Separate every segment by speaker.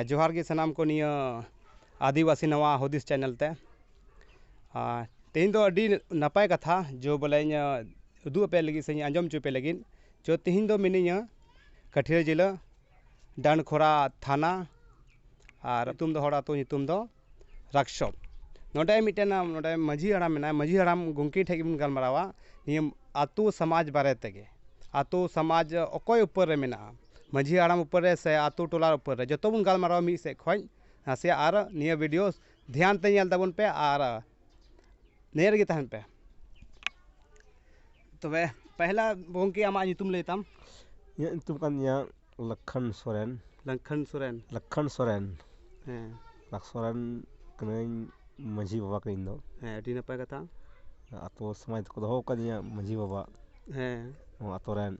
Speaker 1: ᱡᱚᱦᱟᱨ ᱜᱮ ᱥᱟᱱᱟᱢ ᱠᱚ ᱱᱤᱭᱟᱹ ᱟᱹᱫᱤᱵᱟᱹᱥᱤ ᱱᱚᱣᱟ ᱦᱩᱫᱤᱥ ᱪᱮᱱᱮᱞ ᱛᱮ ᱟᱨ ᱛᱮᱦᱮᱧ ᱫᱚ ᱟᱹᱰᱤ ᱱᱟᱯᱟᱭ ᱠᱟᱛᱷᱟ ᱡᱮ ᱵᱚᱞᱮ ᱩᱫᱩᱜ ᱟᱯᱮ ᱞᱟᱹᱜᱤᱫ ᱥᱮ ᱟᱸᱡᱚᱢ ᱦᱚᱪᱚ ᱯᱮ ᱞᱟᱹᱜᱤᱫ ᱛᱚ ᱛᱮᱦᱮᱧ ᱫᱚ ᱢᱤᱱᱟᱹᱧᱟ ᱠᱟᱹᱴᱷᱤᱭᱟᱹᱲ ᱡᱮᱞᱟ ᱰᱟᱱᱠᱚᱨᱟ ᱛᱷᱟᱱᱟ ᱟᱨ ᱟᱹᱛᱩ ᱫᱚ ᱦᱚᱲ ᱟᱹᱛᱩ ᱧᱩᱛᱩᱢ ᱫᱚ ᱳᱣᱟᱨᱠᱥᱚᱯ ᱱᱚᱰᱮ ᱢᱤᱫᱴᱮᱱ ᱱᱚᱰᱮ ᱢᱟᱹᱡᱷᱤ ᱦᱟᱲᱟᱢ ᱢᱮᱱᱟᱭᱟ ᱢᱟᱹᱡᱷᱤ ᱦᱟᱲᱟᱢ ᱜᱚᱢᱠᱮ ᱴᱷᱮᱱ ᱜᱮᱵᱚᱱ ᱜᱟᱞᱢᱟᱨᱟᱣᱟ ᱱᱤᱭᱟᱹ ᱟᱛᱳ ᱥᱚᱢᱟᱡᱽ ᱵᱟᱨᱮ ᱛᱮᱜᱮ ᱟᱛᱳ ᱥᱚᱢᱟᱡᱽ ᱚᱠᱚᱭ ᱩᱯᱚᱨ ᱨᱮ ᱢᱮᱱᱟᱜᱼᱟ ᱢᱟᱹᱡᱷᱤ ᱦᱟᱲᱟᱢ ᱩᱯᱚᱨ ᱨᱮ ᱥᱮ ᱟᱛᱳ ᱴᱚᱞᱟ ᱩᱯᱚᱨ ᱨᱮ ᱡᱚᱛᱚ ᱵᱚᱱ ᱜᱟᱞᱢᱟᱨᱟᱣᱟ ᱢᱤᱫ ᱥᱮᱫ ᱠᱷᱚᱱ ᱱᱟᱥᱮᱭᱟᱜ ᱟᱨ ᱱᱤᱭᱟᱹ ᱵᱷᱤᱰᱭᱳ ᱫᱷᱮᱭᱟᱱ ᱛᱮ ᱧᱮᱞ ᱛᱟᱵᱚᱱ ᱯᱮ ᱟᱨ ᱱᱤᱭᱟᱹ ᱨᱮᱜᱮ ᱛᱟᱦᱮᱱ ᱯᱮ ᱛᱚᱵᱮ ᱯᱮᱦᱞᱟ ᱜᱚᱢᱠᱮ ᱟᱢᱟᱜ ᱧᱩᱛᱩᱢ ᱞᱟᱹᱭ ᱛᱟᱢ ᱤᱧᱟᱹᱜ ᱧᱩᱛᱩᱢ ᱠᱟᱱ ᱛᱤᱧᱟᱹ ᱞᱚᱠᱠᱷᱚᱱ ᱥᱚᱨᱮᱱ ᱞᱚᱠᱠᱷᱚᱱ ᱥᱚᱨᱮᱱ ᱞᱚᱠᱠᱷᱚᱱ ᱥᱚᱨᱮᱱ ᱦᱮᱸ ᱞᱚᱠᱠᱷᱚᱱ ᱥᱚᱨᱮᱱ ᱠᱟᱹᱱᱟᱹᱧ ᱢᱟᱹᱡᱷᱤ ᱵᱟᱵᱟ ᱠᱟᱹᱱᱟᱹᱧ ᱤᱧ ᱫᱚ ᱦᱮᱸ ᱟᱹᱰᱤ ᱱᱟᱯᱟᱭ ᱠᱟᱛᱷᱟ ᱟᱛᱳ ᱥᱚᱢᱟᱡᱽ ᱫᱚᱠᱚ ᱫᱚᱦᱚ ᱟᱠᱟᱫᱤᱧᱟ ᱢᱟᱹᱡᱷᱤ ᱵᱟᱵᱟ ᱦᱮᱸ ᱱᱚᱣᱟ ᱟᱛᱳ ᱨᱮᱱ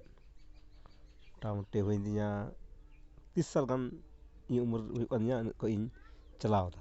Speaker 1: ᱢᱳᱴᱟᱢᱩᱴᱤ ᱦᱩᱭᱮᱱ ᱛᱤᱧᱟ ᱛᱤᱨᱤᱥ ᱥᱟᱞ ᱜᱟᱱ ᱤᱧᱟᱹᱜ ᱩᱢᱮᱨ ᱦᱩᱭᱩᱜ ᱠᱟᱱ ᱛᱤᱧᱟ ᱩᱱᱟᱹᱜ ᱠᱷᱚᱱ ᱤᱧ ᱪᱟᱞᱟᱣ ᱮᱫᱟ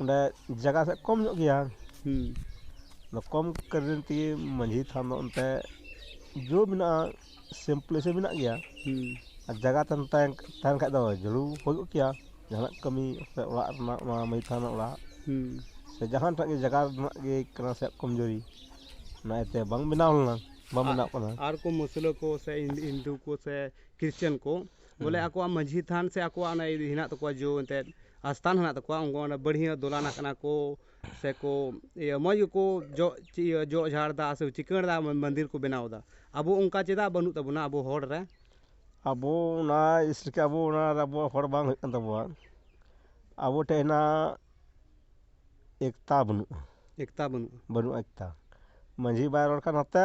Speaker 1: ᱚᱸᱰᱮ ᱡᱟᱭᱜᱟ ᱥᱮᱫ ᱠᱚᱢ ᱧᱚᱜ ᱜᱮᱭᱟ ᱟᱫᱚ ᱠᱚᱢ ᱠᱟᱨᱚᱱ ᱛᱮᱜᱮ ᱢᱟᱹᱡᱷᱤ ᱛᱷᱟᱱ ᱫᱚ ᱚᱱᱛᱮ ᱡᱳᱨ ᱢᱮᱱᱟᱜᱼᱟ ᱥᱮᱢ ᱯᱞᱮᱥ ᱦᱚᱸ ᱢᱮᱱᱟᱜ ᱜᱮᱭᱟ ᱟᱨ ᱡᱟᱭᱜᱟ ᱛᱟᱦᱮᱱ ᱛᱟᱦᱮᱱ ᱠᱷᱟᱱ ᱫᱚ ᱡᱟᱹᱨᱩᱲ ᱦᱩᱭ ᱠᱚᱜ ᱠᱮᱭᱟ ᱡᱟᱦᱟᱱᱟᱜ ᱠᱟᱹᱢᱤ ᱥᱮ ᱚᱲᱟᱜ ᱨᱮᱱᱟᱜ ᱚᱱᱟ ᱢᱟᱹᱡᱷᱤ ᱛᱷᱟᱱ ᱨᱮᱱᱟᱜ ᱚᱲᱟᱜ ᱥᱮ ᱡᱟᱦᱟᱸᱴᱟᱜ ᱜᱮ ᱡᱟᱭᱜᱟ ᱨᱮᱱᱟᱜ ᱜᱮ ᱠᱟᱱᱟ ᱥᱮ ᱠᱚᱢ ᱡᱩᱨᱤ ᱚᱱᱟ ᱤᱭᱟᱹᱛᱮ ᱵᱟᱝ ᱵᱮᱱᱟᱣ ᱞᱮᱱᱟ ᱵᱟᱝ ᱵᱮᱱᱟᱜ ᱠᱟᱱᱟ ᱟᱨ ᱠᱚ ᱢᱩᱥᱞᱟᱹ ᱠᱚ ᱥᱮ ᱦᱤᱱᱫᱩ ᱠᱚ ᱥᱮ ᱠᱷᱨᱤᱥᱪᱟᱱ ᱠᱚ ᱵᱚᱞᱮ ᱟᱠᱚᱣᱟᱜ ᱢᱟᱺᱡᱷᱤ ᱛᱷᱟᱱ ᱥᱮ ᱟᱠᱚᱣᱟᱜ ᱚᱱᱟ ᱦᱮᱱᱟᱜ ᱛᱟᱠᱚᱣᱟ ᱡᱚ ᱮᱱᱛᱮᱫ ᱟᱥᱛᱷᱟᱱ ᱦᱮᱱᱟᱜ ᱛᱟᱠᱚᱣᱟ ᱩᱱᱠᱩ ᱚᱸᱰᱮ ᱵᱟᱹᱲᱦᱤᱭᱟᱹ ᱫᱚᱞᱟᱱᱟᱜ ᱠᱟᱱᱟ ᱠᱚ ᱥᱮᱠᱚ ᱤᱭᱟᱹ ᱢᱚᱡᱽ ᱜᱮᱠᱚ ᱡᱚᱜ ᱤᱭᱟᱹ ᱡᱚᱜ ᱡᱷᱟᱲ ᱮᱫᱟ ᱥᱮ ᱪᱤᱠᱟᱹᱲ ᱮᱫᱟ ᱢᱚᱱᱫᱤᱨ ᱠᱚ ᱵᱮᱱᱟᱣ ᱮᱫᱟ ᱟᱵᱚ ᱚᱱᱠᱟ ᱪᱮᱫᱟᱜ ᱵᱟᱹᱱᱩᱜ ᱛᱟᱵᱚᱱᱟ ᱟᱵᱚ ᱦᱚᱲ ᱨᱮ ᱟᱵᱚ ᱚᱱᱟ ᱤᱥᱠᱟ ᱟᱵᱚ ᱚᱱᱟ ᱟᱵᱚ ᱦᱚᱲ ᱵᱟᱝ ᱦᱩᱭᱩᱜ ᱠᱟᱱ ᱛᱟᱵᱚᱣᱟ ᱟᱵᱚ ᱴᱷᱮᱱ ᱦᱮᱱᱟᱜ ᱮᱠᱛᱟ ᱵᱟᱹᱱᱩᱜᱼᱟ ᱮᱠᱛᱟ ᱵᱟᱹᱱᱩᱜᱼᱟ ᱵᱟᱹᱱᱩᱜᱼᱟ ᱮᱠᱛᱟ ᱢᱟᱺᱡᱷᱤ ᱵᱟᱭ ᱨᱚᱲ ᱠᱷᱟᱱ ᱱᱚᱛᱮ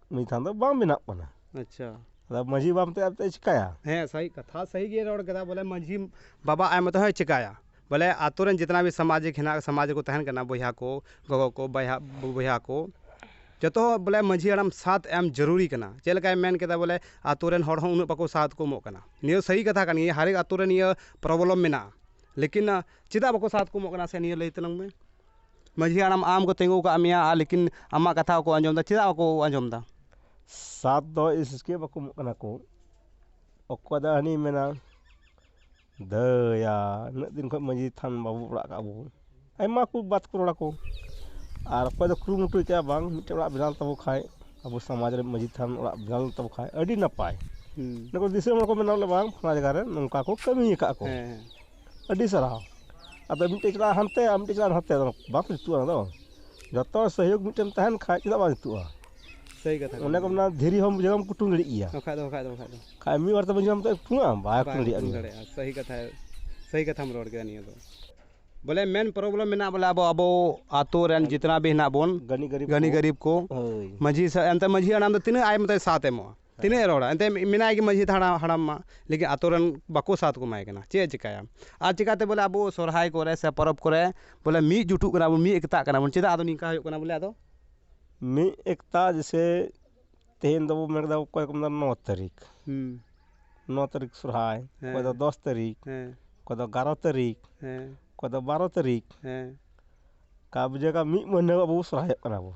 Speaker 1: ᱱᱩᱭ ᱛᱷᱟᱱ ᱫᱚ ᱵᱟᱝ ᱵᱮᱱᱟᱜ ᱠᱟᱱᱟ ᱟᱪᱪᱷᱟ ᱟᱫᱚ ᱢᱟᱺᱡᱷᱤ ᱵᱟᱵᱟ ᱢᱮᱱᱛᱮ ᱟᱫᱚ ᱪᱮᱫ ᱮ ᱪᱤᱠᱟᱹᱭᱟ ᱦᱮᱸ ᱥᱟᱹᱦᱤ ᱠᱟᱛᱷᱟ ᱥᱟᱹᱦᱤ ᱜᱮ ᱨᱚᱲ ᱠᱮᱫᱟ ᱵᱚᱞᱮ ᱢᱟᱺᱡᱷᱤ ᱵᱟᱵᱟ ᱟᱡ ᱢᱚᱛᱚ ᱦᱚᱸᱭ ᱪᱤᱠᱟᱹᱭᱟ ᱵᱚᱞᱮ ᱟᱛᱳ ᱨᱮᱱ ᱡᱤᱛᱱᱟ ᱵᱷᱤ ᱥᱟᱢᱟᱡᱤᱠ ᱦᱮᱱᱟᱜ ᱥᱟᱢᱟᱡᱽ ᱨᱮᱠᱚ ᱛᱟᱦᱮᱱ ᱠᱟᱱᱟ ᱵᱚᱭᱦᱟ ᱠᱚ ᱜᱚᱜᱚ ᱠᱚ ᱵᱟᱭᱦᱟ ᱵᱚᱭᱦᱟ ᱠᱚ ᱡᱚᱛᱚ ᱦᱚᱲ ᱵᱚᱞᱮ ᱢᱟᱺᱡᱷᱤ ᱦᱟᱲᱟᱢ ᱥᱟᱛ ᱮᱢ ᱡᱟᱹᱨᱩᱨᱤ ᱠᱟᱱᱟ ᱪᱮᱫ ᱞᱮᱠᱟᱭ ᱢᱮᱱ ᱠᱮᱫᱟ ᱵᱚᱞᱮ ᱟᱛᱳ ᱨᱮᱱ ᱦᱚᱲ ᱦᱚᱸ ᱩᱱᱟᱹᱜ ᱵᱟᱠᱚ ᱥᱟᱛᱷ ᱠᱚ ᱮᱢᱚᱜ ᱠᱟᱱᱟ ᱱᱤᱭᱟᱹ ᱫᱚ ᱥᱟᱹᱦᱤ ᱠᱟᱛᱷᱟ ᱠᱟᱱ ᱜᱮᱭᱟ ᱦᱟᱨᱮᱠ ᱟᱛᱳ ᱨᱮ ᱱᱤᱭᱟᱹ ᱯᱨᱚᱵᱞᱮᱢ ᱢᱮᱱᱟᱜᱼᱟ ᱞᱮᱠᱤᱱ ᱪᱮᱫᱟᱜ ᱵᱟᱠᱚ ᱥᱟᱛᱷ ᱠᱚ ᱮᱢᱚᱜ ᱠᱟᱱᱟ ᱥᱮ ᱱᱤᱭᱟᱹ ᱞᱟᱹᱭ ᱛᱟᱞᱟᱝ ᱢᱮ ᱢᱟᱹᱡᱷᱤ ᱦᱟᱲᱟᱢ ᱟᱢ ᱠᱚ ᱛᱤᱸᱜᱩ ᱟᱠᱟᱫ ᱢᱮᱭᱟ ᱟᱨ ᱞᱮᱠᱤᱱ ᱟᱢᱟᱜ ᱠᱟᱛᱷᱟ ᱵᱟᱠᱚ ᱟᱸᱡᱚᱢ ᱮᱫᱟ ᱪᱮᱫᱟᱜ ᱵᱟᱠᱚ ᱟᱸᱡᱚᱢ ᱮᱫᱟ ᱥᱟᱛ ᱫᱚ ᱤᱥᱠᱮ ᱵᱟᱠᱚ ᱮᱢᱚᱜ ᱠᱟᱱᱟ ᱠᱚ ᱚᱠᱚᱭ ᱫᱚ ᱦᱟᱹᱱᱤ ᱢᱮᱱᱟ ᱫᱟᱹᱭᱟ ᱩᱱᱟᱹᱜ ᱫᱤᱱ ᱠᱷᱚᱱ ᱢᱟᱹᱡᱷᱤ ᱛᱷᱟᱱ ᱵᱟᱵᱚ ᱚᱲᱟᱜ ᱟᱠᱟᱫ ᱟᱵᱚ ᱟᱭᱢᱟ ᱠᱚ ᱵᱟᱛ ᱠᱚ ᱨᱚᱲᱟᱠᱚ ᱟᱨ ᱚᱠᱚᱭ ᱫᱚ ᱠᱩᱨᱩᱢᱩᱴᱩ ᱟᱠᱟᱫᱼᱟ ᱵᱟᱝ ᱢᱤᱫᱴᱮᱱ ᱚᱲᱟᱜ ᱵᱮᱱᱟᱣ ᱛᱟᱵᱚ ᱠᱷᱟᱱ ᱟᱵᱚ ᱥᱚᱢᱟᱡᱽ ᱨᱮ ᱢᱟᱹᱡᱷᱤ ᱛᱷᱟᱱ ᱚᱲᱟᱜ ᱵᱮᱱᱟᱣ ᱞᱮᱱ ᱛᱟᱵᱚ ᱠᱷᱟᱱ ᱟᱹᱰᱤ ᱱᱟᱯᱟᱭ ᱫᱤᱥᱚᱢ ᱦᱚᱲ ᱠᱚ ᱢᱮᱱᱟ ᱵᱟᱝ ᱯᱷᱟᱞᱱᱟ ᱡᱟᱭᱜᱟ ᱨᱮ ᱱᱚᱝᱠᱟ ᱠᱚ ᱠᱟᱹᱢᱤ ᱟᱠᱟᱫ ᱠᱚ ᱟᱹᱰᱤ ᱥᱟᱨᱦᱟᱣ ᱟᱫᱚ ᱢᱤᱫᱴᱮᱡ ᱪᱟᱞᱟᱜᱼᱟ ᱦᱟᱱᱛᱮ ᱟᱨ ᱢᱤᱫᱴᱮᱡ ᱪᱟᱞᱟᱜᱼᱟ ᱱᱟᱛᱮ ᱵᱟᱝ ᱡᱩᱛᱩᱜᱼᱟ ᱚᱱᱟ ᱫᱚ ᱡᱚᱛᱚ ᱥᱚᱦᱚᱭᱳᱜᱽ ᱢᱤᱫᱴᱮᱱ ᱛᱟᱦᱮᱱ ᱠᱷᱟᱡ ᱪᱮᱫᱟᱜ ᱵᱟᱝ ᱡᱩᱛᱩᱜᱼᱟ ᱚᱱᱮ ᱠᱚ ᱢᱮᱱᱟ ᱫᱷᱤᱨᱤ ᱦᱚᱸ ᱡᱮᱨᱚᱠᱚᱢ ᱠᱩᱴᱩᱝ ᱫᱟᱲᱮᱜ ᱜᱮᱭᱟ ᱠᱷᱟᱡ ᱢᱤᱫ ᱵᱟᱨ ᱛᱮ ᱵᱟᱹᱧ ᱧᱟᱢ ᱛᱮ ᱠᱩᱴᱩᱝ ᱟᱢ ᱵᱟᱭ ᱠᱩᱴᱩᱝ ᱫᱟᱲᱮᱭᱟᱜᱼᱟ ᱵᱚᱞᱮ ᱢᱮᱱ ᱯᱨᱚᱵᱞᱮᱢ ᱢᱮᱱᱟᱜᱼᱟ ᱵᱚᱞᱮ ᱟᱵᱚ ᱟᱵᱚ ᱟᱛᱳ ᱨᱮᱱ ᱡᱤᱛᱱᱟ ᱵᱷᱤ ᱦᱮᱱᱟᱜ ᱵᱚᱱ ᱜᱟᱱᱤ ᱜᱟᱨᱤᱵ ᱠᱚ ᱢᱟᱹᱡᱷᱤ ᱥᱟᱶ ᱮᱱᱛᱮ ᱢᱟᱹᱡᱷᱤ ᱦᱟᱲᱟᱢ ᱫᱚ ᱛᱤᱱᱟᱹᱜ ᱟᱡ ᱢᱚᱛᱚᱡ ᱥᱟᱛ ᱮᱢᱚᱜᱼᱟ ᱛᱤᱱᱟᱹᱜ ᱮ ᱨᱚᱲᱟ ᱮᱱᱛᱮ ᱢᱮᱱᱟᱭ ᱜᱮ ᱢᱟᱹᱡᱷᱤ ᱫᱷᱟᱲᱟ ᱦᱟᱲᱟᱢ ᱢᱟ ᱞᱮᱠᱤᱱ ᱟᱛᱳ ᱨᱮᱱ ᱵᱟᱠᱚ ᱥᱟᱛ ᱠᱚ ᱮᱢᱟᱭ ᱠᱟᱱᱟ ᱪᱮᱫ ᱮ ᱪᱤᱠᱟᱹᱭᱟ ᱟᱨ ᱪᱤᱠᱟᱹᱛᱮ ᱵᱚᱞᱮ ᱟᱵᱚ ᱥᱚᱦᱨᱟᱭ ᱠᱚᱨᱮ ᱥᱮ ᱯᱚᱨᱚᱵᱽ ᱠᱚᱨᱮ ᱵᱚᱞᱮ ᱢᱤᱫ ᱡᱩᱴᱩᱜ ᱠᱟᱱᱟ ᱵᱚᱱ ᱢᱤᱫ ᱮᱠᱛᱟᱜ ᱠᱟᱱᱟ ᱵᱚᱱ ᱪᱮᱫᱟᱜ ᱟᱫᱚ ᱱᱤᱝᱠᱟ ᱦᱩᱭᱩᱜ ᱠᱟᱱᱟ ᱵᱚᱞᱮ ᱟᱫᱚ ᱢᱤᱫ ᱮᱠᱛᱟ ᱡᱮᱥᱮ ᱛᱮᱦᱮᱧ ᱫᱚᱵᱚ ᱢᱮᱱ ᱠᱮᱫᱟ ᱚᱠᱚᱭ ᱠᱚ ᱢᱮᱱᱫᱟ ᱱᱚ ᱛᱟᱹᱨᱤᱠᱷ ᱱᱚ ᱛᱟᱹᱨᱤᱠᱷ ᱥᱚᱦᱨᱟᱭ ᱚᱠᱚᱭ ᱫᱚ ᱫᱚᱥ ᱛᱟᱹᱨᱤᱠᱷ ᱚᱠᱚᱭ ᱫᱚ ᱮᱜᱟᱨᱚ ᱛᱟᱹᱨᱤᱠᱷ ᱚᱠᱚᱭ ᱫᱚ ᱵᱟᱨᱚ ᱛᱟᱹᱨᱤᱠᱷ ᱠᱟᱵᱽᱡᱟ ᱠᱟᱜ ᱢᱤᱫ ᱢᱟᱹᱦᱱᱟᱹ ᱟᱵᱚ ᱵᱚᱱ ᱥᱚᱦᱨᱟᱭᱚᱜ ᱠᱟᱱᱟ ᱵᱚᱱ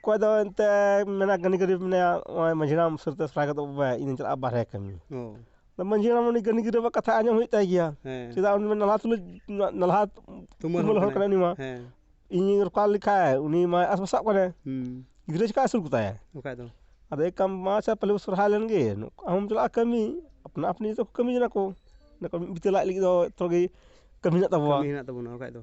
Speaker 1: ᱚᱠᱚᱭ ᱫᱚ ᱮᱱᱛᱮᱫ ᱢᱮᱱᱟᱭ ᱜᱟᱹᱱᱤ ᱜᱟᱹᱨᱭᱟᱹ ᱢᱮᱱᱟᱭᱟ ᱱᱚᱜᱼᱚᱭ ᱢᱟᱹᱡᱷᱤ ᱦᱟᱲᱟᱢ ᱩᱥᱟᱹᱨᱟᱛᱮ ᱥᱟᱭ ᱜᱚᱫᱚᱜ ᱢᱮ ᱤᱧ ᱫᱩᱧ ᱪᱟᱞᱟᱜᱼᱟ ᱵᱟᱦᱨᱮ ᱠᱟᱹᱢᱤ ᱢᱟᱹᱡᱷᱤ ᱦᱟᱲᱟᱢ ᱩᱱᱤ ᱜᱟᱹᱱᱤ ᱜᱟᱹᱨᱭᱟᱹᱣᱟᱜ ᱠᱟᱛᱷᱟ ᱟᱸᱡᱚᱢ ᱦᱩᱭᱩᱜ ᱛᱟᱭ ᱜᱮᱭᱟ ᱪᱮᱫᱟᱜ ᱩᱱᱤ ᱢᱟ ᱱᱟᱞᱦᱟ ᱛᱩᱞᱩᱡ ᱱᱟᱞᱦᱟ ᱛᱩᱢᱟᱹᱞ ᱦᱚᱲ ᱠᱟᱱᱟᱭ ᱩᱱᱤ ᱢᱟ ᱤᱧᱤᱧ ᱨᱚᱯᱚᱲ ᱞᱮᱠᱷᱟᱡ ᱩᱱᱤ ᱢᱟᱭ ᱟᱥ ᱯᱟᱥᱟᱜ ᱠᱟᱱᱟᱭ ᱜᱤᱫᱽᱨᱟᱹ ᱪᱤᱠᱟᱭ ᱟᱹᱥᱩᱞ ᱠᱚᱛᱟᱭᱟ ᱵᱟᱠᱷᱟᱡ ᱫᱚ ᱟᱫᱚ ᱮᱠ ᱠᱟᱢ ᱢᱟ ᱟᱪᱪᱷᱟ ᱛᱟᱦᱚᱞᱮ ᱵᱚᱱ ᱥᱚᱦᱨᱟᱭ ᱞᱮᱱᱜᱮ ᱱᱚᱝᱠᱟ ᱦᱚᱸᱢ ᱪᱟᱞᱟᱜᱼᱟ ᱠᱟᱹᱢᱤ ᱟᱯᱱᱟ ᱟᱹᱯᱱᱤ ᱡᱚᱛᱚ ᱠᱚ ᱠᱟᱹᱢᱤ ᱡᱚᱱᱟᱜ ᱟᱠᱚ ᱢᱤᱫ ᱵᱤᱛᱟᱹ ᱞᱟᱡ ᱞᱟᱹᱜᱤᱫ ᱫᱚ ᱡᱚᱛᱚ ᱜᱮ ᱠᱟᱹᱢᱤ ᱢᱮᱱᱟᱜ ᱛᱟᱵᱚᱣᱟ ᱠᱟᱹᱢᱤ ᱢᱮᱱᱟᱜ ᱛᱟᱵᱚᱱᱟ ᱵᱟᱠᱷᱟᱡ ᱫᱚ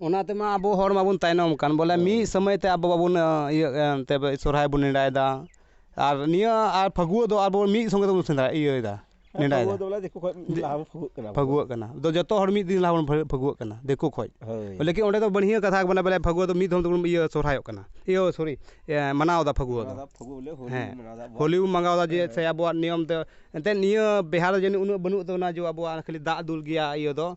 Speaker 1: ᱚᱱᱟ ᱛᱮᱢᱟ ᱟᱵᱚ ᱦᱚᱲ ᱢᱟᱵᱚᱱ ᱛᱟᱭᱱᱚᱢ ᱟᱠᱟᱱ ᱵᱚᱞᱮ ᱢᱤᱫ ᱥᱚᱢᱚᱭ ᱛᱮ ᱟᱵᱚ ᱵᱟᱵᱚᱱ ᱤᱭᱟᱹᱜ ᱠᱟᱱ ᱛᱮ ᱥᱚᱦᱨᱟᱭ ᱵᱚᱱ ᱱᱮᱰᱟᱭᱮᱫᱟ ᱟᱨ ᱱᱤᱭᱟᱹ ᱟᱨ ᱯᱷᱟᱹᱜᱩᱣᱟᱹ ᱫᱚ ᱟᱵᱚ ᱢᱤᱫ ᱥᱚᱸᱜᱮ ᱛᱮᱵᱚᱱ ᱥᱮᱸᱫᱽᱨᱟ ᱤᱭᱟᱹᱭᱮᱫᱟ ᱱᱮᱰᱟᱭᱮᱫᱟ ᱯᱷᱟᱹᱜᱩᱣᱟᱹᱜ ᱠᱟᱱᱟ ᱟᱫᱚ ᱡᱚᱛᱚ ᱦᱚᱲ ᱢᱤᱫ ᱫᱤᱱ ᱞᱟᱦᱟ ᱵᱚᱱ ᱯᱷᱟᱹᱜᱩᱣᱟᱹᱜ ᱠᱟᱱᱟ ᱫᱤᱠᱩ ᱠᱷᱚᱱ ᱞᱮᱠᱤᱱ ᱚᱸᱰᱮ ᱫᱚ ᱵᱟᱹᱲᱦᱤᱭᱟᱹ ᱠᱟᱛᱷᱟ ᱠᱟᱱᱟ ᱵᱚᱞᱮ ᱯᱷᱟᱹᱜᱩᱣᱟᱹ ᱫᱚ ᱢᱤᱫ ᱫᱷᱚᱢ ᱛᱮᱵᱚᱱ ᱤᱭᱟᱹ ᱥᱚᱦᱨᱟᱭᱚᱜ ᱠᱟᱱᱟ ᱤᱭᱟᱹ ᱥᱚᱨᱤ ᱢᱟᱱᱟᱣᱮᱫᱟ ᱯᱷᱟᱹᱜᱩᱣᱟᱹ ᱫᱚ ᱦᱮᱸ ᱦᱳᱞᱤ ᱵᱚᱱ ᱢᱟᱱᱟᱣᱫᱟ ᱡᱮ ᱥᱮ ᱟᱵᱚᱣᱟᱜ ᱱᱤᱭᱚᱢ ᱛᱮ ᱮᱱᱛᱮᱫ ᱱᱤᱭᱟᱹ ᱵᱤᱦᱟᱨ ᱨᱮ ᱡᱟᱹᱱᱤᱡ ᱩᱱᱟᱹᱜ ᱵᱟᱹᱱᱩᱜ ᱛᱟᱵᱚᱱᱟ ᱡᱮ ᱟᱵᱚᱣᱟᱜ ᱠᱷᱟᱹᱞᱤ ᱫᱟᱜ ᱫᱩᱞ ᱜᱮᱭᱟ ᱤᱭᱟᱹ ᱫᱚ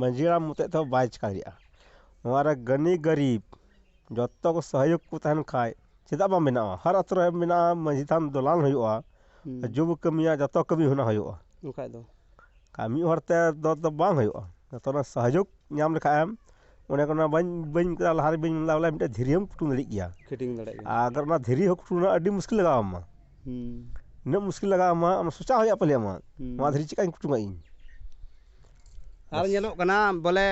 Speaker 1: ᱢᱟᱺᱡᱷᱤ ᱦᱟᱲᱟᱢ ᱢᱚᱛᱚᱡ ᱛᱮᱦᱚᱸ ᱵᱟᱭ ᱪᱮᱠᱟ ᱫᱟᱲᱮᱭᱟᱜᱼᱟ ᱱᱚᱣᱟ ᱨᱮ ᱜᱟᱹᱱᱤ ᱜᱟᱹᱨᱤᱵᱽ ᱡᱚᱛᱚ ᱠᱚ ᱥᱚᱦᱚᱭᱳᱜᱽ ᱠᱚ ᱛᱟᱦᱮᱱ ᱠᱷᱟᱱ ᱪᱮᱫᱟᱜ ᱵᱟᱝ ᱵᱮᱱᱟᱜᱼᱟ ᱦᱟᱨ ᱟᱹᱛᱩ ᱨᱮ ᱢᱮᱱᱟᱜᱼᱟ ᱢᱟᱺᱡᱷᱤ ᱛᱷᱟᱱ ᱫᱚᱞᱟᱱ ᱦᱩᱭᱩᱜᱼᱟ ᱡᱚᱛᱚ ᱵᱚ ᱠᱟᱹᱢᱤᱭᱟ ᱡᱚᱛᱚ ᱠᱟᱹᱢᱤ ᱚᱱᱟ ᱦᱩᱭᱩᱜᱼᱟ ᱵᱟᱠᱷᱟᱡ ᱫᱚ ᱟᱨ ᱢᱤᱫ ᱦᱚᱲ ᱛᱮᱫᱚ ᱵᱟᱝ ᱦᱩᱭᱩᱜᱼᱟ ᱡᱚᱛᱚ ᱦᱚᱲᱟᱜ ᱥᱚᱦᱚᱡᱳᱜᱽ ᱧᱟᱢ ᱞᱮᱠᱷᱟᱱ ᱮᱢ ᱚᱱᱮ ᱠᱚ ᱢᱮᱱᱟ ᱵᱟᱹᱧ ᱵᱟᱹᱧ ᱢᱮᱛᱟᱫᱟ ᱞᱟᱦᱟᱨᱮ ᱵᱟᱹᱧ ᱢᱮᱱ ᱞᱮᱫᱟ ᱵᱚᱞᱮ ᱢᱤᱫᱴᱮᱱ ᱫᱷᱤᱨᱤ ᱦᱚᱸᱢ ᱠᱩᱴᱩᱢ ᱫᱟᱲᱮᱜ ᱜᱮᱭᱟ ᱯᱷᱤᱴᱤᱝ ᱫᱟᱲᱮᱜ ᱜᱮᱭᱟ ᱟᱨ ᱚᱱᱟ ᱫᱷᱤᱨᱤ ᱦᱚᱸ ᱠᱩᱴᱩᱢ ᱨᱮᱱᱟᱜ ᱟᱹᱰᱤ ᱢᱩᱥᱠᱤᱞ ᱞᱟᱜᱟᱣ ᱟᱢᱟ ᱩᱱᱟᱹᱜ ᱢᱩᱥᱠᱤᱞ ᱞᱟᱜᱟᱣ ᱟᱢᱟ ᱟᱢ ᱥᱚᱪᱟᱣ ᱦᱩᱭᱩᱜᱼᱟ ᱯᱟᱞᱮ ᱟᱢᱟᱜ ᱱᱚᱣᱟ ᱫᱷᱤᱨᱤ ᱪᱮᱫ ᱠᱟᱹᱧ ᱠᱩᱴᱩᱢᱟ ᱤᱧ ᱟᱨ ᱧᱮᱞᱚᱜ ᱠᱟᱱᱟ ᱵᱚᱞᱮ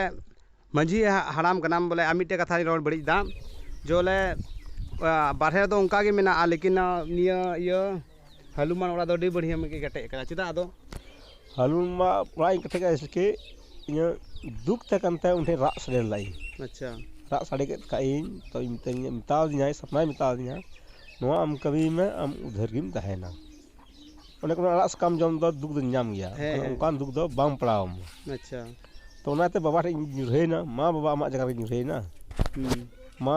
Speaker 1: ᱢᱟᱹᱡᱷᱤ ᱦᱟᱲᱟᱢ ᱠᱟᱱᱟᱢ ᱵᱚᱞᱮ ᱟᱨ ᱢᱤᱫᱴᱮᱱ ᱠᱟᱛᱷᱟᱧ ᱨᱚᱲ ᱵᱟᱹᱲᱤᱡ ᱫᱟ ᱡᱮ ᱵᱚᱞᱮ ᱵᱟᱨᱦᱮ ᱨᱮᱫᱚ ᱚᱱᱠᱟᱜᱮ ᱢᱮᱱᱟᱜᱼᱟ ᱞᱮᱠᱤᱱ ᱱᱤᱭᱟᱹ ᱤᱭᱟᱹ ᱦᱟᱹᱞᱩᱢᱟᱜ ᱚᱲᱟᱜ ᱫᱚ ᱟᱹᱰᱤ ᱵᱟᱹᱲᱭᱟᱹᱢ ᱜᱮ ᱠᱮᱴᱮᱡ ᱠᱟᱱᱟ ᱪᱮᱫᱟᱜ ᱟᱫᱚ ᱦᱟᱹᱞᱩᱢᱟᱜ ᱚᱲᱟᱜ ᱤᱧ ᱠᱮᱴᱮᱡ ᱠᱟᱜᱼᱟ ᱡᱮᱭᱥᱮᱠᱤ ᱤᱧᱟᱹᱜ ᱫᱩᱠ ᱛᱟᱦᱮᱸ ᱠᱟᱱ ᱛᱟᱭᱟ ᱩᱱ ᱴᱷᱮᱱ ᱨᱟᱜ ᱥᱟᱰᱮ ᱞᱮᱫᱟ ᱤᱧ ᱟᱪᱪᱷᱟ ᱨᱟᱜ ᱥᱟᱰᱮ ᱠᱮᱫ ᱠᱷᱟᱱ ᱤᱧ ᱛᱚ ᱢᱤᱛᱟᱹᱧᱟᱭ ᱢᱮᱛᱟ ᱫᱤᱧᱟᱭ ᱥᱟᱯᱱᱟᱭ ᱢᱮᱛᱟ ᱫᱤᱧᱟ ᱱᱚᱣᱟ ᱟᱢ ᱠᱟᱹᱢᱤᱭ ᱢᱮ ᱟᱢ ᱩᱫᱷᱟᱹᱨ ᱜᱮᱢ ᱛᱟᱦᱮᱱᱟ ᱚᱱᱮ ᱠᱚ ᱢᱮᱱᱟ ᱟᱲᱟᱜ ᱥᱟᱠᱟᱢ ᱡᱚᱢ ᱫᱚ ᱫᱩᱠ ᱫᱚ ᱧᱟᱢ ᱜᱮᱭᱟ ᱦᱮᱸ ᱚᱱᱠᱟᱱ ᱫᱩᱠ ᱫᱚ ᱵᱟᱝ ᱯᱟᱲᱟᱣ ᱟᱢᱟ ᱟᱪᱪᱷᱟ ᱛᱚ ᱚᱱᱟᱛᱮ ᱵᱟᱵᱟ ᱴᱷᱮᱱ ᱤᱧ ᱧᱩᱨᱦᱟᱹᱭᱮᱱᱟ ᱢᱟ ᱵᱟᱵᱟ ᱟᱢᱟᱜ ᱡᱟᱭᱜᱟ ᱨᱮᱜᱮᱧ ᱧᱩᱨᱦᱟᱹᱭᱮᱱᱟ ᱢᱟ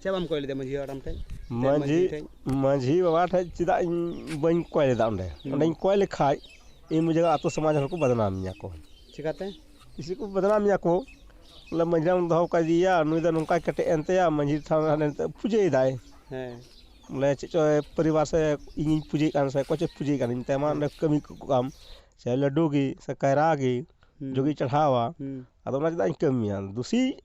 Speaker 1: ᱪᱮᱫ ᱵᱟᱢ ᱠᱚᱭ ᱞᱮᱫᱟ ᱢᱟᱹᱡᱷᱤ ᱦᱟᱲᱟᱢ ᱴᱷᱮᱡ ᱢᱟᱹᱡᱷᱤ ᱢᱟᱹᱡᱷᱤ ᱵᱟᱵᱟ ᱴᱷᱮᱡ ᱪᱮᱫᱟᱜ ᱤᱧ ᱵᱟᱹᱧ ᱠᱚᱭ ᱞᱮᱫᱟ ᱚᱸᱰᱮ ᱚᱸᱰᱮᱧ ᱠᱚᱭ ᱞᱮᱠᱷᱟᱡ ᱤᱧ ᱵᱩᱡᱷᱟᱹᱣᱟ ᱟᱛᱳ ᱥᱚᱢᱟᱡᱽ ᱦᱚᱲ ᱠᱚ ᱵᱚᱫᱱᱟᱢ ᱤᱧᱟᱹ ᱠᱚ ᱪᱤᱠᱟᱹᱛᱮ ᱡᱮᱭᱥᱮ ᱠᱤ ᱵᱚᱫᱱᱟᱢ ᱤᱧᱟᱹ ᱠᱚ ᱵᱚᱞᱮ ᱢᱟᱹᱡᱷᱤ ᱦᱟᱲᱟᱢ ᱫᱚᱦᱚ ᱠᱟᱫᱮᱭᱟ ᱱᱩᱭ ᱫᱚ ᱱᱚᱝᱠᱟᱭ ᱠᱮᱴᱮᱡ ᱮᱱ ᱛᱟᱭᱟ ᱢᱟᱹᱡᱷᱤ ᱛᱷᱟᱱ ᱨᱮ ᱦᱟᱱᱮ ᱱᱤᱛᱚᱜ ᱯᱩᱡᱟᱹᱭ ᱫᱟᱭ ᱦᱮᱸ ᱵᱚᱞᱮ ᱪᱮᱫ ᱪᱚᱭ ᱯᱚᱨᱤᱵᱟᱨ ᱥᱮ ᱤᱧᱤᱧ ᱯᱩᱡᱟᱹᱭᱮᱫ ᱠᱟᱱ ᱥᱮ ᱚᱠᱚᱭ ᱪᱚᱭ ᱯᱩᱡᱟᱹᱭᱮᱫ ᱠᱟᱱ ᱢᱮᱛᱟᱭ ᱢᱟ ᱚᱸᱰᱮ ᱠᱟᱹᱢᱤ ᱠᱚᱜ ᱠᱟᱢ ᱥᱮ ᱞᱟᱹᱰᱩ ᱜᱮ ᱥᱮ ᱠᱟᱭᱨᱟ ᱜᱮ ᱡᱚᱜᱮ ᱪᱟᱲᱦᱟᱣᱟ ᱟᱫᱚ ᱚᱱᱟ ᱪᱮᱫᱟᱜ ᱤᱧ ᱠᱟᱹᱢᱤᱭᱟ ᱫᱩᱥᱤ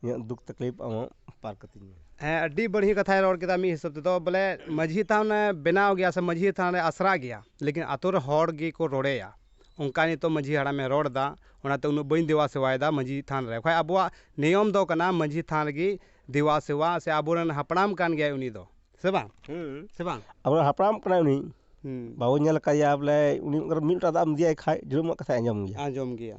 Speaker 1: ᱤᱧᱟᱹᱜ ᱫᱩᱠ ᱛᱟᱠᱞᱤᱯ ᱟᱢᱟᱜ ᱯᱟᱨ ᱠᱟᱹᱛᱤᱧ ᱢᱮ ᱦᱮᱸ ᱟᱹᱰᱤ ᱵᱟᱹᱲᱤᱡ ᱠᱟᱛᱷᱟᱭ ᱨᱚᱲ ᱠᱮᱫᱟ ᱢᱤᱫ ᱦᱤᱥᱟᱹᱵ ᱛᱮᱫᱚ ᱵᱚᱞᱮ ᱢᱟᱹᱡᱷᱤ ᱛᱷᱟᱱ ᱮ ᱵᱮᱱᱟᱣ ᱜᱮᱭᱟ ᱥᱮ ᱢᱟᱹᱡᱷᱤ ᱛᱷᱟᱱ ᱨᱮ ᱟᱥᱲᱟ ᱜᱮᱭᱟ ᱞᱮᱠᱤᱱ ᱟᱛᱳ ᱨᱮ ᱦᱚᱲ ᱜᱮᱠᱚ ᱨᱚᱲᱮᱭᱟ ᱚᱱᱠᱟ ᱱᱤᱛᱚᱜ ᱢᱟᱹᱡᱷᱤ ᱦᱟᱲᱟᱢ ᱮ ᱨᱚᱲ ᱮᱫᱟ ᱚᱱᱟᱛᱮ ᱩᱱᱟᱹᱜ ᱵᱟᱹᱧ ᱫᱮᱵᱟ ᱥᱮᱵᱟᱭᱮᱫᱟ ᱢᱟᱹᱡᱷᱤ ᱛᱷᱟᱱ ᱨᱮ ᱵᱟᱠᱷᱟᱡ ᱟᱵᱚᱣᱟᱜ ᱱᱤᱭᱚᱢ ᱫᱚ ᱠᱟᱱᱟ ᱢᱟᱹᱡᱷᱤ ᱛᱷᱟᱱ ᱨᱮᱜᱮ ᱫᱮᱵᱟ ᱥᱮᱵᱟ ᱥᱮ ᱟᱵᱚ ᱨᱮᱱ ᱦᱟᱯᱲᱟᱢ ᱠᱟᱱ ᱜᱮᱭᱟᱭ ᱩᱱᱤ ᱫᱚ ᱥᱮ ᱵᱟᱝ ᱥᱮ ᱵᱟᱝ ᱟᱵᱚ ᱨᱮᱱ ᱦᱟᱯᱲᱟᱢ ᱠᱟᱱᱟᱭ ᱩᱱᱤ ᱵᱟᱵᱚᱱ ᱧᱮᱞ ᱠᱟᱫᱮᱭᱟ ᱵᱚᱞᱮ ᱩᱱᱤ ᱢᱤᱫ ᱞᱚᱴᱟ ᱫᱟᱜ ᱮᱢ ᱤᱫᱤᱭᱟᱭ ᱠᱷᱟᱡ ᱡᱟᱹᱱᱩᱢᱟᱜ ᱠᱟᱛᱷᱟᱭ ᱟᱸᱡᱚᱢ ᱜᱮᱭᱟ ᱟᱸᱡᱚᱢ ᱜᱮᱭᱟ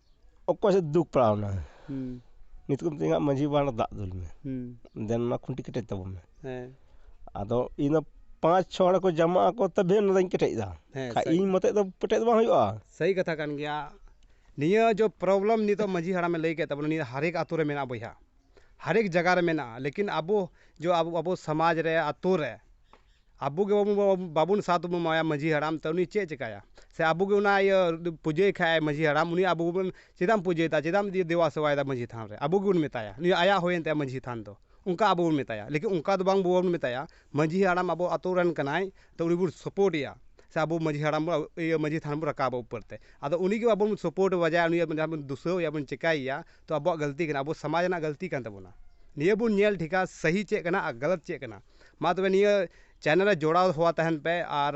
Speaker 1: ᱚᱠᱚᱭ ᱥᱮᱫ ᱫᱩᱠ ᱯᱟᱲᱟᱣ ᱮᱱᱟ ᱱᱤᱛᱚᱜ ᱫᱚ ᱢᱤᱛᱟᱹᱧ ᱠᱟᱱᱟ ᱢᱟᱺᱡᱷᱤ ᱵᱟᱵᱟ ᱚᱱᱟ ᱫᱟᱜ ᱫᱩᱞ ᱢᱮ ᱫᱮᱱ ᱚᱱᱟ ᱠᱷᱩᱱᱴᱤ ᱠᱮᱴᱮᱡ ᱛᱟᱵᱚᱱ ᱢᱮ ᱟᱫᱚ ᱤᱧ ᱫᱚ ᱯᱟᱸᱪ ᱪᱷᱚ ᱦᱚᱲ ᱠᱚ ᱡᱟᱢᱟᱜ ᱟᱠᱚ ᱛᱚᱵᱮ ᱚᱱᱟ ᱫᱚᱧ ᱠᱮᱴᱮᱡ ᱮᱫᱟ ᱵᱟᱠᱷᱟᱱ ᱤᱧ ᱢᱚᱛᱮ ᱫᱚ ᱠᱮᱴᱮᱡ ᱫᱚ ᱵᱟᱝ ᱦᱩᱭᱩᱜᱼᱟ ᱥᱟᱹᱦᱤ ᱠᱟᱛᱷᱟ ᱠᱟᱱ ᱜᱮᱭᱟ ᱱᱤᱭᱟᱹ ᱡᱚ ᱯᱨᱚᱵᱞᱮᱢ ᱱᱤᱛᱚᱜ ᱢᱟᱺᱡᱷᱤ ᱦᱟᱲᱟᱢᱮ ᱞᱟᱹᱭ ᱠᱮᱫ ᱛᱟᱵᱚᱱᱟ ᱱᱤᱭᱟᱹ ᱦᱟᱨᱮᱠ ᱟᱹᱛᱩ ᱨᱮ ᱢᱮᱱᱟᱜᱼᱟ ᱵᱚᱭᱦᱟ ᱦᱟᱨᱮᱠ ᱡᱟᱭᱜᱟ ᱨᱮ ᱢᱮᱱᱟᱜᱼᱟ ᱞᱮᱠᱤᱱ ᱟᱵᱚ ᱡᱚ ᱟᱵᱚ ᱥᱚᱢᱟᱡᱽ ᱨᱮ ᱟᱹᱛᱩ ᱨᱮ ᱟᱵᱚ ᱜᱮ ᱵᱟᱵᱚᱱ ᱵᱟᱵᱚᱱ ᱥᱟᱛ ᱵᱚᱱ ᱮᱢᱟᱭᱟ ᱢᱟᱹᱡᱷᱤ ᱦᱟᱲᱟᱢ ᱛᱚ ᱩᱱᱤ ᱪᱮᱫ ᱪᱤᱠᱟᱹᱭᱟ ᱥᱮ ᱟᱵᱚ ᱜᱮ ᱚᱱᱟ ᱤᱭᱟᱹ ᱯᱩᱡᱟᱹᱭᱮ ᱠᱷᱟᱱ ᱢᱟᱹᱡᱷᱤ ᱦᱟᱲᱟᱢ ᱩᱱᱤ ᱟᱵᱚ ᱵᱚᱱ ᱪᱮᱫᱟᱜ ᱮᱢ ᱯᱩᱡᱟᱹᱭ ᱮᱫᱟ ᱪᱮᱫᱟᱜ ᱮᱢ ᱫᱮᱵᱟ ᱥᱮᱵᱟᱭᱮᱫᱟ ᱢᱟᱹᱡᱷᱤ ᱛᱷᱟᱱ ᱨᱮ ᱟᱵᱚ ᱜᱮᱵᱚᱱ ᱢᱮᱛᱟᱭᱟ ᱩᱱᱤ ᱟᱭᱟᱜ ᱦᱩᱭᱮᱱ ᱛᱟᱭᱟ ᱢᱟᱹᱡᱷᱤ ᱛᱷᱟᱱ ᱫᱚ ᱚᱱᱠᱟ ᱟᱵᱚ ᱵᱚᱱ ᱢᱮᱛᱟᱭᱟ ᱞᱮᱠᱤᱱ ᱚᱱᱠᱟ ᱫᱚ ᱵᱟᱝ ᱵᱚᱱ ᱢᱮᱛᱟᱭᱟ ᱢᱟᱹᱡᱷᱤ ᱦᱟᱲᱟᱢ ᱟᱵᱚ ᱟᱛᱳ ᱨᱮᱱ ᱠᱟᱱᱟᱭ ᱛᱚ ᱩᱱᱤ ᱵᱚᱱ ᱥᱟᱯᱳᱨᱴ ᱮᱭᱟ ᱥᱮ ᱟᱵᱚ ᱢᱟᱹᱡᱷᱤ ᱦᱟᱲᱟᱢ ᱵᱚᱱ ᱤᱭᱟᱹ ᱢᱟᱹᱡᱷᱤ ᱛᱷᱟᱱ ᱵᱚᱱ ᱨᱟᱠᱟᱵᱟ ᱩᱯᱟᱹᱨ ᱛᱮ ᱟᱫᱚ ᱩᱱᱤ ᱜᱮ ᱵᱟᱵᱚᱱ ᱥᱟᱯᱳᱨᱴ ᱵᱟᱡᱟᱭ ᱩᱱᱤ ᱡᱟᱦᱟᱸ ᱵᱚᱱ ᱫᱩᱥᱟᱹᱣ ᱮᱭᱟ ᱵᱚᱱ ᱪᱤᱠᱟᱹᱭᱮᱭᱟ ᱛᱚ ᱟᱵᱚᱣᱟᱜ ᱜᱟᱹᱞᱛᱤ ᱠᱟᱱᱟ ᱟᱵᱚ ᱥᱚᱢᱟᱡᱽ ᱨᱮᱱᱟᱜ ᱜᱟᱹᱞᱛᱤ ᱠᱟᱱ ᱛᱟᱵᱚᱱᱟ ᱱᱤᱭᱟᱹ ᱵᱚᱱ ᱧᱮᱞ ᱴᱷᱤᱠᱟ ᱥᱟᱹᱦᱤ ᱪᱮᱫ ᱠᱟᱱᱟ ᱟᱨ ᱜᱟᱞᱟᱛ ᱪᱮᱫ ᱠᱟᱱᱟ ᱢᱟ ᱛᱚᱵᱮ ᱱᱤᱭᱟᱹ ᱪᱮᱱᱮᱞ ᱨᱮ ᱡᱚᱲᱟᱣ ᱦᱚᱣᱟ ᱛᱟᱦᱮᱱ ᱯᱮ ᱟᱨ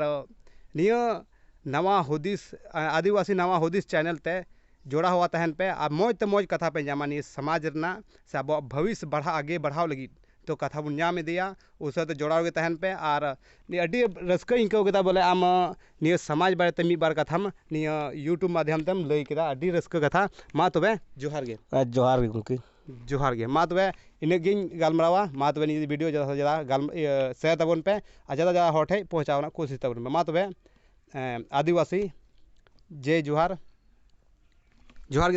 Speaker 1: ᱱᱤᱭᱟᱹ ᱱᱟᱣᱟ ᱦᱩᱫᱤᱥ ᱟᱹᱫᱤᱵᱟᱹᱥᱤ ᱱᱟᱣᱟ ᱦᱩᱫᱤᱥ ᱪᱮᱱᱮᱞ ᱛᱮ ᱡᱚᱲᱟᱣ ᱦᱚᱣᱟ ᱛᱟᱦᱮᱱ ᱯᱮ ᱟᱨ ᱢᱚᱡᱽ ᱛᱮ ᱢᱚᱡᱽ ᱠᱟᱛᱷᱟ ᱯᱮ ᱧᱟᱢᱟ ᱱᱤᱭᱟᱹ ᱥᱟᱢᱟᱡᱽ ᱨᱮᱱᱟᱜ ᱥᱮ ᱟᱵᱚᱣᱟᱜ ᱵᱷᱟᱹᱵᱤᱥ ᱵᱟᱲᱦᱟᱣ ᱟᱜᱮ ᱵᱟᱲᱦᱟᱣ ᱞᱟᱹᱜᱤᱫ ᱛᱚ ᱠᱟᱛᱷᱟ ᱵᱚᱱ ᱧᱟᱢ ᱤᱫᱤᱭᱟ ᱩᱱ ᱥᱟᱶᱛᱮ ᱡᱚᱲᱟᱣ ᱜᱮ ᱛᱟᱦᱮᱱ ᱯᱮ ᱟᱨ ᱱᱤᱭᱟᱹ ᱟᱹᱰᱤ ᱨᱟᱹᱥᱠᱟᱹᱧ ᱟᱹᱭᱠᱟᱹᱣ ᱠᱮᱫᱟ ᱵᱚᱞᱮ ᱟᱢ ᱱᱤᱭᱟᱹ ᱥᱟᱢᱟᱡᱽ ᱵᱟᱨᱮ ᱛᱮ ᱢᱤᱫ ᱵᱟᱨ ᱠᱟᱛᱷᱟᱢ ᱱᱤᱭᱟᱹ ᱤᱭᱩᱴᱩᱵᱽ ᱢᱟᱫᱽᱫᱷᱚᱢ ᱛᱮᱢ ᱞᱟᱹᱭ ᱠᱮᱫᱟ ᱟᱹᱰᱤ ᱨᱟᱹᱥᱠᱟᱹ ᱠᱟᱛᱷᱟ ᱢᱟ ᱛᱚᱵᱮ ᱡᱚᱦᱟᱨ ᱜᱮ ᱡᱚᱦᱟᱨ ᱜᱮ ᱜᱚᱢᱠᱮ ᱡᱚᱦᱟᱨ ᱜᱮ ᱢᱟ ᱛᱚᱵᱮ ᱤᱱᱟᱹᱜ ᱜᱤᱧ ᱜᱟᱞᱢᱟᱨᱟᱣᱟ ᱢᱟ ᱛᱚᱵᱮ ᱱᱤᱭᱟᱹ ᱵᱷᱤᱰᱭᱳ ᱡᱟᱫᱟ ᱥᱮ ᱡᱟᱫᱟ ᱥᱮᱭᱟᱨ ᱛᱟᱵᱚᱱ ᱯᱮ ᱟᱨ ᱡᱟᱫᱟ ᱡᱟᱫᱟ ᱦᱚᱲ ᱴᱷᱮᱡ ᱯᱳᱣᱪᱷᱟᱣ ᱨᱮᱱᱟᱜ ᱠᱳᱥᱤᱥ ᱛᱟᱵᱚᱱ ᱯᱮ ᱢᱟ ᱛᱚᱵᱮ ᱟᱹᱫᱤᱵᱟᱹᱥᱤ ᱡᱮ ᱡᱚᱦᱟᱨ ᱡᱚᱦᱟᱨ ᱜᱮ